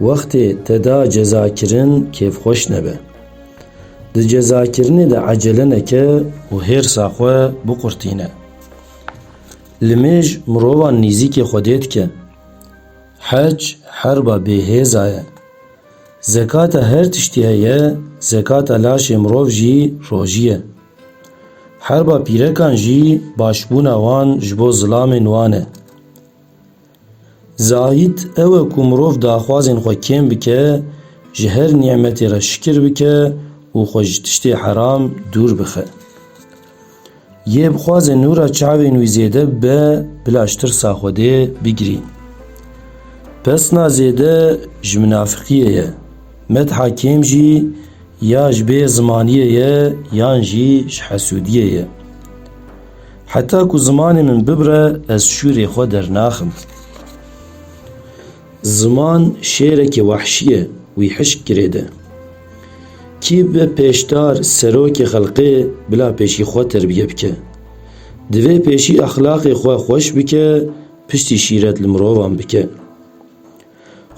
Wextê te da cezakirin kêfxweş nebe. Di cezakirinê de ecele neke û hêrsa xwe biqurtîne. Li mêj mirovan nîzîkê Xwedê dike. Hec herba bêhêza ye. Zekata her tiştî heye, zekata laşê mirov jî rojî ye. Herba pîrekan jî başbûna wan ji bo zilamên wan e. Zayîd ew e ku mirov daxwazên xwe kêm bike, ji her nîmetê re şikir bike û xwe ji tiştê heram dûr bixe. Yê bixwaze nûra çavên wî zêde bibe bila ji tirsa Xwedê bigirî. Pesna zêde ji minafiqiyê ye, metha kêm jî ya ji bê zimaniyê ye yan jî ji hesûdiyê ye. Heta ku zimanê min bibire ez şûrê xwe dernaxim. Ziman şêrekî wehşî ye wî hişk girêde. Kî bi pêşdar serokê xelqê bila pêşî xwe terbiye bike. Divê pêşî exlaqê xwe xweş bike piştî şîret li mirovan bike.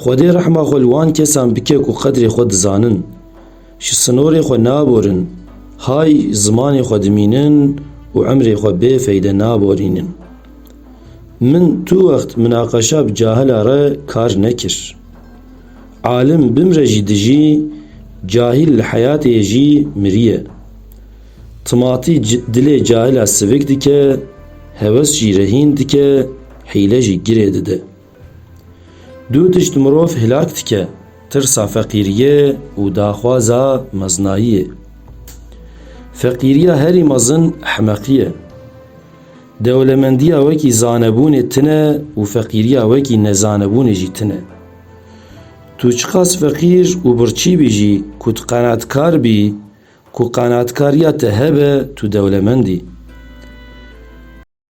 Xwedê rehma xwe li wan kesan bike ku qedrê xwe dizanin, ji sinorê xwe naborin, hay zimanê xwe dimînin û emrê xwe bê feyde naborînin. Min tu wext minaqeşa bi cahila re kar nekir. Alim bimre jî dijî, cahil li heyatê jî miriye. Timatî dilê cahila sivik dike, heves jî rehîn dike, hîle jî girê dide. Du tişt mirov hilak dike, tirsa feqîriyê û daxwaza mezinayiyê. Feqîriya herî mezin ehmeqî ye. Dewlemendiya wekî zanebûnê tune û feqîriya wekî nezanebûnê jî tune. Tu çiqas feqîr û birçî bî jî ku tu qenatkar bî, ku qenatkariya te hebe tu dewlemend î.